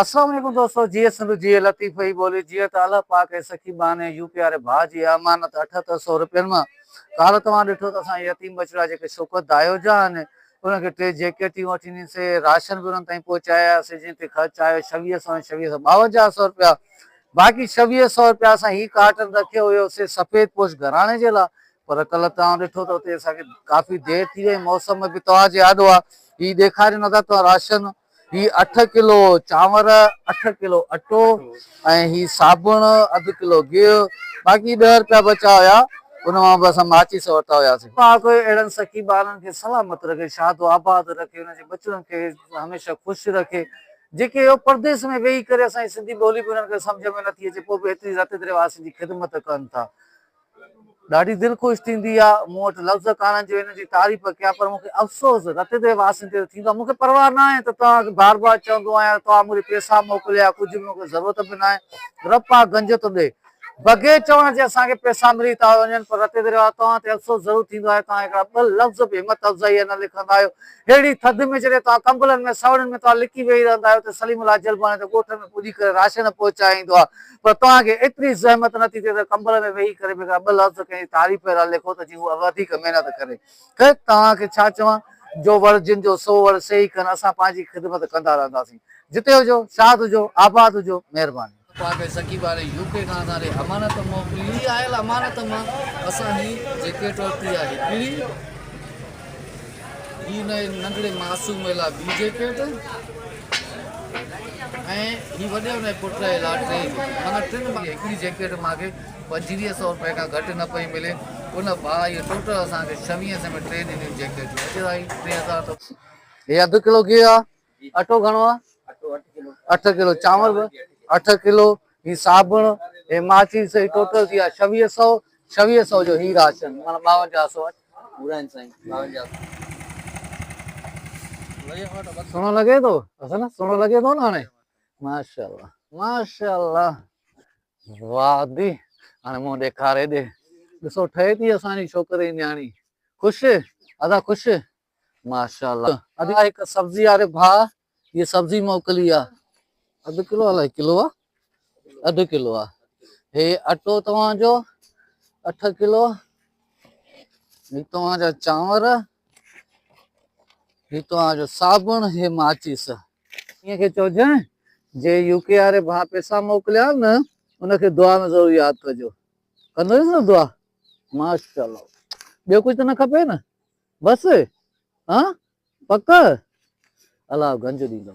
السلام عليڪم دوستو جيئي سنڌ جيئي لطيف ئي ٻولي جيئي ته الله پاڪ ۽ سخي ٻانهي ۽ يوپي واري ڀاء جي اها امانت اٺهتر سئو روپين مان ڪالهه توهان ڏٺو ته اسان جي يتيم ٻچڙا جيڪي شوڪت دايو جا آهن انهن کي ٽي جيڪيٽيون وٺي ڏنيسي راشن به انهن تائين پهچائي آياسي جنهن تي خرچ آيو ڇويهه سئو ۽ ڇويهه سئو ٻاونجاهه سئو روپيا باقي ڇويهه سئو روپيا اسان هي ڪارٽن رکيو هيو سي سفيد پوش گهراڻي جي لاء پر ڪالهه توهان ڏٺو ته اتي اسان کي ڪافي دير ٿي وئي موسم به توهان جي آڏو آهي هي ڏيکاريو نه ٿا توهان راشن هي اٺ ڪلو چانور، اٺ ڪلو اٽو ۽ هي صابڻ، اڌ ڪلو گيهه، باقي ڏهه رپيا بچا هيا، ان مان به اسان ماچيس ورتا هياسين. پاڪ اهڙن سخي ٻارن کي سلامت رکي، شاد و آباد رکي، انهن جي ٻچڙن کي هميشه خوش رکي، جيڪي اهو پرديس ۾ ويهي ڪري اسان جي سنڌي ٻولي به انهن کي سمجهه ۾ نٿي اچي، پوء به ايتري رت دريواسين جي خدمت ڪن ٿا. ڏاڍي دل خوش ٿيندي آ، مون وٽ لفظ ڪانهن جو هن جي تعريف ڪيان پر مون کي افسوس رت دي واسين تي ته ٿيندو آ، مون کي پرواهه ناهي ته توهان کي بار بار چوندو آهيان ته توهان مون ڏي پيسا موڪليا يا ڪجهه به مون کي ضرورت به ناهي رب پاڪ گنج ٿو ڏئي بغير چوڻ جي اسان کي پيسا ملي ٿا وڃن پر رت دي رواس توهان تي افسوس ضرور ٿيندو آهي توهان هڪڙا ٻه لفظ به همت افزائي جا نه لکندا آهيو ههڙي ٿڌ ۾ جڏهن توهان ڪمبلن ۾ سوڙين ۾ توهان لڪي ويهي رهندا آهيو ته سليم الله جلباڻي ته ڳوٺ ۾ پڄي ڪري راشن پهچائيندو آ پر توهان کي ايتري زحمت نه ٿي ٿئي ته ڪمبل ۾ ويهي ڪري بي ڪا ٻه لفظ ڪنهن جي تعريف اهڙا لکو ته جيئن هو وڌيڪ محنت ڪري. خير توهان کي ڇا چوان، جو وڙ جن جو سو وڙ سي ئي ڪن، اسان پنهنجي خدمت ڪندا رهنداسين. جتي هجو، شاد هجو، آباد هجو. مهرباني. توهان کي سکي واري يو ڪي کان اسان ڏي امانت موڪلي. هي آيل امانت مان اسان جي جيڪٽ ورتي آهي. پيڙهي. هي انهيء ننڍڙي معصومي لاء ٻي جيڪيٽ ۽ هي وڏي انهيء پٽ جي لاء ٽي جيڪيٽون. معنيٰ ٽن مان هڪڙي جيڪيٽ مان کي پنجويهه سئو رپئي کان گهٽ نه پئي ملي. ان ڀائيء ٽوٽل اسان کي ڇويهين سئين ۾ ٽي ڏنيون جيڪيٽون. اڄ اهي ٽي هزار ته. هي اڌ ڪلو گيهه آ، اٽو گهڻو آ اٺ ڪلو چانور به اٺ ڪلو هي صابڻ هي ماچيس هي ٽوٽل ٿي آ ڇويهه سو ڇويهه سو جو هي راشن مانا ٻاونجاهه سو پورا آهن سائين ٻاونجاهه سو سهڻو لڳي ٿو حسن سهڻو لڳي ٿو نه هاڻي ماشاء الله ماشاء الله واھ دي هاڻي مون ڏيکاري ڏي ڏسو ٺهي ٿي اسان جي ڇوڪري نياڻي خوش ادا خوش ماشاءالله ادا هڪ سبزي واري ڀاء هي سبزي موڪلي آ اڌ ڪلو الاء ڪلو آ اڌ ڪلو آ هي اٽو توهان جو 8 ڪلو هي توهان جا چانور هي توهان جو صابڻ هي ماچيس ائين کي چوجن جي يو ڪي واري ڀاء پيسا موڪليا نه ان کي دعا ۾ ضرور ياد ڪجو ڪندو نه دعا ماشاءالله ٻيو ڪجھ ته نه کپي نه بس ها پڪ الاهو گنج ڏيندو.